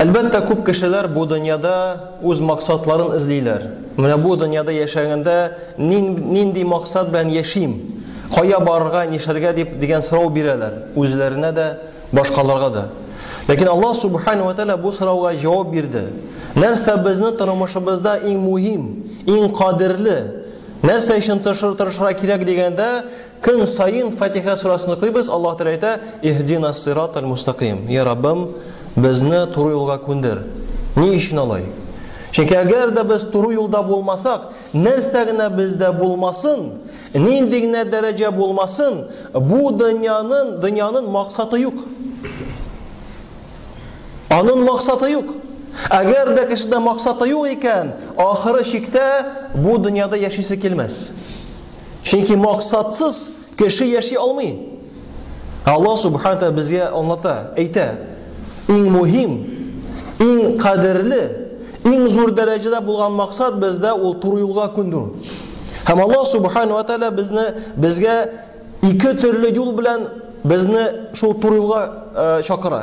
Әлбәттә, күп кешеләр бу дөньяда үз максатларын эзлиләр. Менә бу дөньяда яшәгәндә нинди максат белән яшим? Кая барырга, нишләргә дип дигән сорау бирәләр үзләренә дә, башкаларга да. Ләкин Аллаһ субхана ва тәгалә бу сорауга җавап бирде. Нәрсә безне тормышыбызда иң мөһим, иң кадерле? Нәрсә өчен тырышырга кирәк дигәндә, Көн саен Фатиха сурасын укыйбыз, Аллаһ Тәгалә әйтә, Иһдина сиратал мустакыйм. Йә Раббым, безне туры юлга күндер. Ни өчен алай? Чөнки әгәр дә без туры юлда булмасак, нәрсә генә бездә булмасын, нинди генә дәрәҗә булмасын, бу дөньяның дөньяның максаты юк. Аның максаты юк. Әгәр дә кешедә максаты юк икән, ахыры чиктә бу дөньяда яшисе килмәс. Чөнки максатсыз кеше яши алмый. Алла Субханата безгә аңлата, әйтә, иң мөһим, иң кадерле, иң зур дәрәҗәдә булган максат бездә ул туры юлга күнү. Һәм Алла Субхаана ва Тәала безне безгә ике төрле юл белән безне шул туры юлга э, чакыра.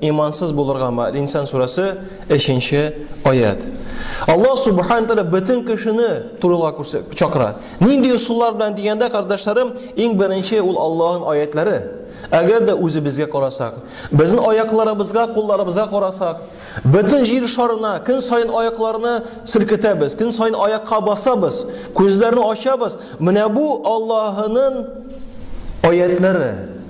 Имансыз булырга ма, Инсан сурәсе 3 нче аят. Аллаһ субхана тәгалә бөтен кешене турыла чакыра. Нинди ысуллар белән дигәндә, кардәшләрем, иң беренче ул Аллаһның аятлары. Әгәр дә үзебезгә карасак, безнең аякларыбызга, кулларыбызга карасак, бөтен җир шарына көн саен аякларны селкетәбез, көн саен аякка басабыз, күзләрне ачабыз. Менә бу Аллаһның аятлары.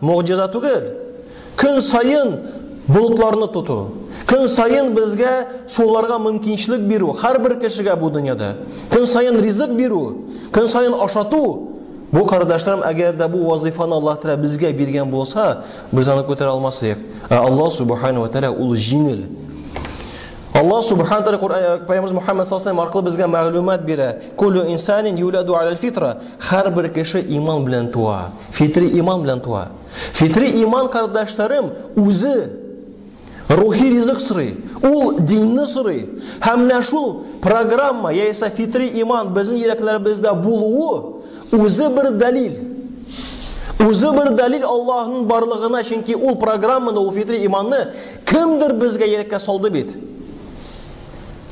Могҗиза түгел. Көн саен болытларны тоту, көн саен безгә суларга мөмкинчелек бирү, һәрбер кешегә бу дөньяда. Көн саен ризык бирү, көн саен ашату. Бу кардәшләрем, әгәр дә бу вазифаны Аллаһ Тәгалә безгә биргән булса, без аны күтәрә алмас идек. Ә Аллаһ Субхану ва Тәгалә ул җиңел. Аллаһ Субхану Тәгалә Коръән э, Пәйгамбер Мухаммад саллаллаху алейһи аркылы безгә мәгълүмат бирә. Куллу инсанин юладу аль фитра. Һәрбер кеше иман белән туа. Фитри иман белән туа. Фитри иман, кардәшләрем, үзе рухи ризык сорый, ул динне сорый. Һәм менә шул программа, яисә фитри иман безнең йөрәкләребездә булуы үзе бер дәлил. Үзе бер дәлил Аллаһның барлыгына, чөнки ул программаны, ул фитри иманны кемдер безгә йөрәккә салды бит.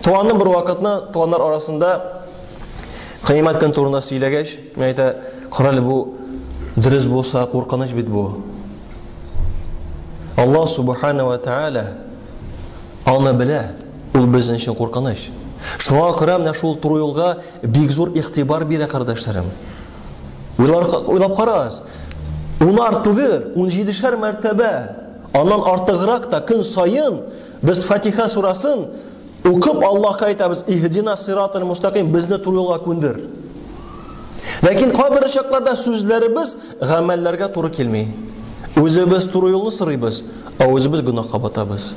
Туаның бер вакытны туаннар арасында кыямәт көн турында сөйләгәч, Мин әйтә, карале бу дөрес булса куркыныч бит бу. Алла субхана ва тааля аны белә, ул безнең өчен куркыныч. Шуңа күрә менә шул туры юлга бик зур игътибар бирә кардәшләрем. Уйлап карагыз, унар түгел, унҗидешәр мәртәбә, аннан артыграк та көн саен без Фатиха сурасын Укып Аллаһка әйтәбез, Иһдина сиратал мустаким, безне туры юлга күндер. Ләкин кайбер очракларда сүзләребез гамәлләргә туры килми. Үзебез туры юлны сорыйбыз, ә үзебез гөнаһка батабыз.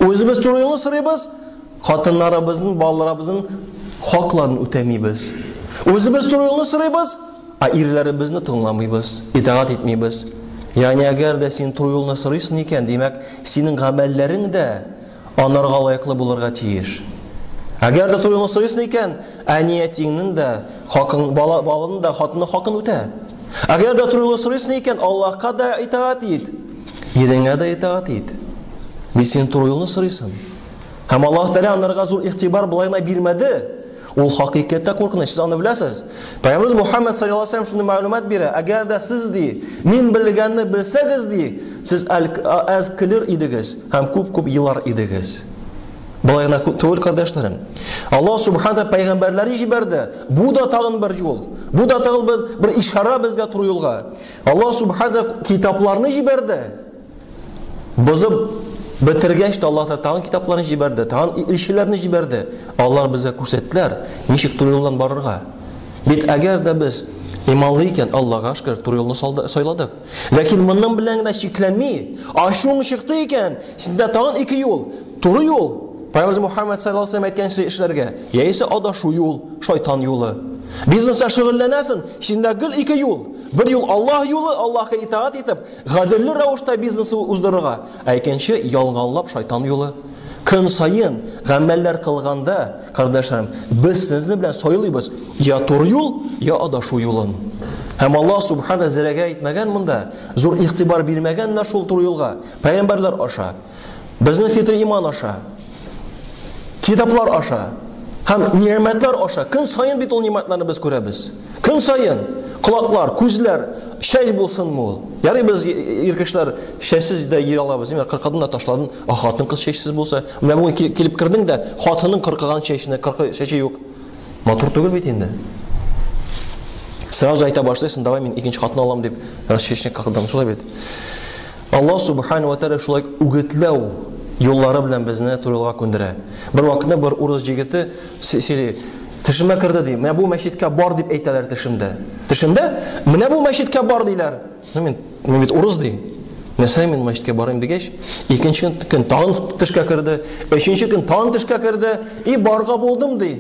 Үзебез туры юлны сорыйбыз, хатыннарыбызның, балаларыбызның хакларын үтәмибез. Үзебез туры юлны сорыйбыз, ә ирләребезне тыңламыйбыз, итагать итмибез. Ягъни әгәр дә син туры юлны сорыйсың икән, димәк, синең гамәлләрең дә анарга лаеклы булырга тиеш. Әгәр дә туеңны сорыйсың икән, әниятиңнең дә хакын, бала, балының да хатыны хакын үтә. Әгәр дә туеңны сорыйсың икән, Аллаһка да итаат ит, иреңә дә итаат ит. Бит син туеңны сорыйсың. Һәм Аллаһ Тәгалә анарга зур игътибар былай гына бирмәде. Ул хакыйкатьтә куркыныч, сез аны беләсез. Пәйгамбәрбез Мухаммад саллаллаһу алейһи ва шундый мәгълүмат бирә, әгәр дә сез ди, мин белгәнне белсәгез ди, сез әз көлер идегез һәм күп-күп елар идегез. Болай гына түгел, кардәшләрем. Аллаһ субхана пәйгамбәрләре җибәрде. Бу да тагын бер юл. Бу да тагын бер ишара безгә туры юлга. Аллаһ субхана китапларны җибәрде. Бозып бетергәч тә Аллаһ Тәгалә тагын китапларны җибәрде, тагын илчеләрне җибәрде. Алар безгә күрсәттеләр, ничек туры юлдан барырга. Бит әгәр дә без иманлы икән, Аллаһга шөкер, туры юлны сайладык. Ләкин монның белән генә чикләнми, ачуың чыкты икән, синдә тагын ике юл, туры юл, Пәйгамбер Мухаммад саллаллаһу алейһи әйткәнчә эшләргә, яисә адашу юл, шайтан юлы. Бизнеста шөгыльләнәсең, синдә гел ике юл. Бер юл Аллаһ юлы, Аллаһка итаат итеп, Гаделле рәвештә бизнес уздырырга, ә икенче ялганлап шайтан юлы. Көн саен гамәлләр кылганда, кардәшләрем, без сезне белән сайлыйбыз я туры юл, я адашу юлын. Һәм Аллаһ Субхана зерәгә әйтмәгән монда, зур игътибар бирмәгәннәр шул туры юлга, пәйгамбәрләр аша, безнең фитри иман аша. Китаплар аша һәм нигъмәтләр аша көн саен бит ул нигъмәтләрне без күрәбез. Көн саен колаклар, күзләр, чәч булсынмы ул? Ярый без ир кешеләр чәчсез дә йөри алабыз. Мин кыркыдым да ташладым. А хатын кыз чәчсез булса, менә бүген килеп кердең дә, хатының кыркыган чәченә, кыркы чәче юк. Матур түгел бит инде. Сразу әйтә башлыйсың, давай мин икенче хатын алам дип, раз чәчне кыркыдым, шулай бит. Аллаһ Субханаһу ва Тәгалә шулай үгетләү юллары белән безне туры юлга күндерә. Бервакытны бер урыс җегете сөйли, Тешемә керде, ди. Менә бу мәчеткә бар дип әйтәләр тешемдә. Тешемдә? Менә бу мәчеткә бар диләр. Ну мин, мин бит урыс ди. Нәрсә мин мәчеткә барыйм дигәч, икенче көн тагын тешкә керде, өченче көн тагын тешкә керде, и барга булдым ди.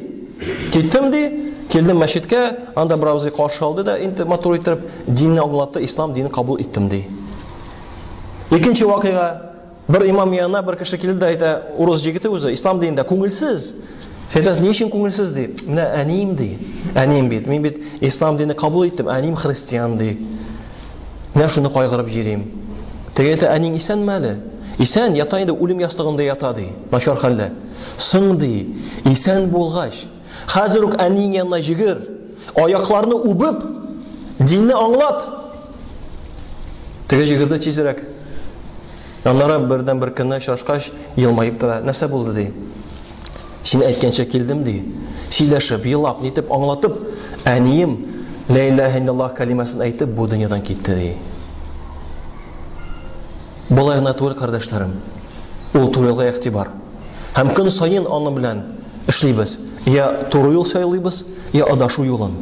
Киттем ди, килдем мәчеткә, анда беравзый каршы алды да инде матур итеп, динне аңлатты, ислам динен кабул иттем, ди. Икенче вакыйга, бер имам янына бер кеше килде дә әйтә, урыс җегете үзе, ислам динендә күңелсез. Сәйдәс, ни өчен күңелсез, ди. Менә әнием, ди. Әнием бит, мин бит ислам динен кабул иттем, әнием христиан, ди. Менә шуны кайгырып җирим. Теге әйтә, әниң исәнме әле? Исән, ята инде, үлем ястыгында ята, ди. Начар хәлдә. Соң, ди, исән булгач, Хәзер үк әниең янына йөгер, аякларны үбеп, динне аңлат. Теге җегет дә тизрәк. Аннары бердән бер көнне очрашкач, елмаеп тора. Нәрсә булды ди? Син әйткәнчә килдем ди. Сөйләшеп, елап, нитеп, аңлатып, әнием Ла илаһа иллаллаһ кәлимәсен әйтеп, бу дөньядан китте ди. Болай гына түгел, кардәшләрем. Ул турыга игътибар. Һәм көн саен аны белән эшлибез. Я туры юл сайлыйбыз, я адашу юлын.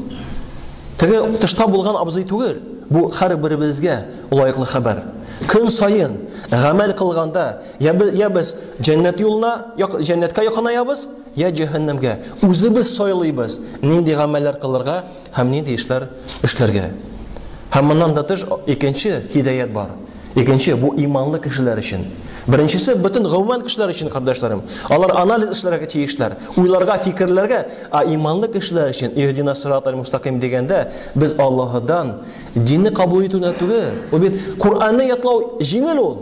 Теге тышта булган абзый түгел, бу хәр беребезгә лаеклы хәбәр. Көн саен гамәл кылганда, я, я без җәннәт юлына, я җәннәткә якынаябыз, я җәһәннәмгә. Үзебез сайлыйбыз, нинди гамәлләр кылырга, Һәм нинди эшләр эшләргә? Һәм моннан да тыш икенче һидаять бар. Икенче, бу иманлы кешеләр өчен. Беренчесе, бөтен гомумән кешеләр өчен, кардәшләрем. Алар анализ эшләргә тиешләр, уйларга, фикерләргә. А иманлы кешеләр өчен, Иһдина сират аль-мустакыйм дигәндә, без Аллаһыдан динне кабул итү генә түгел, ул бит Коръәнне ятлау җиңел ул.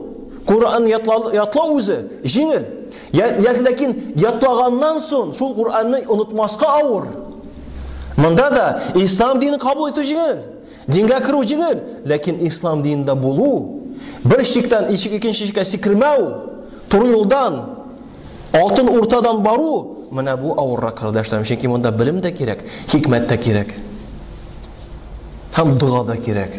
Коръәнне ятлау, ятлау үзе җиңел. Я, я, ләкин ятлаганнан соң шул Куранны онытмаска авыр. Монда да ислам динен кабул итү җиңел. Дингә керү җиңел, ләкин ислам динендә булу, бер шиктән ишек икенче шиккә сикермәү, туры юлдан, алтын уртадан бару, менә бу авыррак кардәшләрем, чөнки монда белем дә кирәк, хикмәт тә кирәк. Һәм дога да кирәк.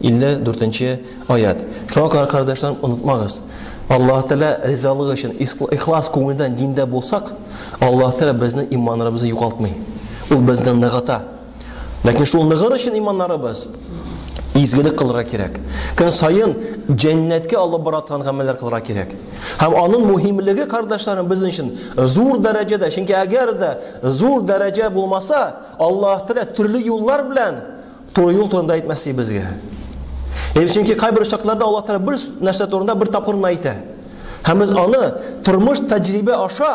54 нче аять. Шуңа күрә, кардәшләрем, онытмагыз. Аллаһ Тәгалә ризалыгы өчен ихлас күңелдән диндә булсак, Аллаһ Тәгалә безнең иманнарыбызны югалтмый. Ул безне ныгыта. Ләкин шул ныгыр өчен иманнарыбыз изгелек кылырга кирәк. Көн саен җәннәткә алып бара торган гамәлләр кылырга кирәк. Һәм аның мөһимлеге, кардәшләрем, безнең өчен зур дәрәҗәдә, чөнки әгәр дә зур дәрәҗә булмаса, Аллаһ Тәгалә төрле юллар белән Туры юл турында әйтмәсе безгә. Ел чөнки кайбер очракларда Аллаһ Тәгалә бер нәрсә турында бер тапкыр гына әйтә. Һәм без аны тормыш тәҗрибә аша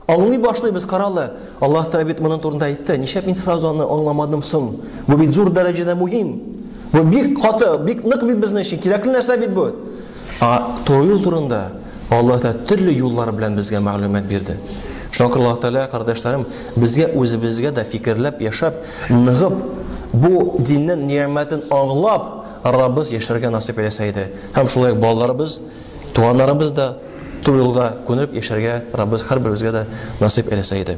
аңлый башлыйбыз. Каралы, Аллаһ Тәгалә бит моның турында әйтте. Ничәп мин сразу аны аңламадым соң? Бу бит зур дәрәҗәдә мөһим. Бу бик каты, бик нык бит безнең өчен кирәкле нәрсә бит бу. А туры юл турында Аллаһ Тәгалә төрле юллар белән безгә мәгълүмат бирде. Шуңа күрә Аллаһ Тәгалә, кардәшләрем, безгә үзебезгә дә фикерләп яшәп, ныгып, бу диннең ниәмәтен аңлап, арабыз яшәргә насыйп әйләсә иде. Һәм шулай ук балаларыбыз, туганнарыбыз да туры юлга күнеп яшәргә Раббыбыз һәрберебезгә дә насыйп әйләсә иде.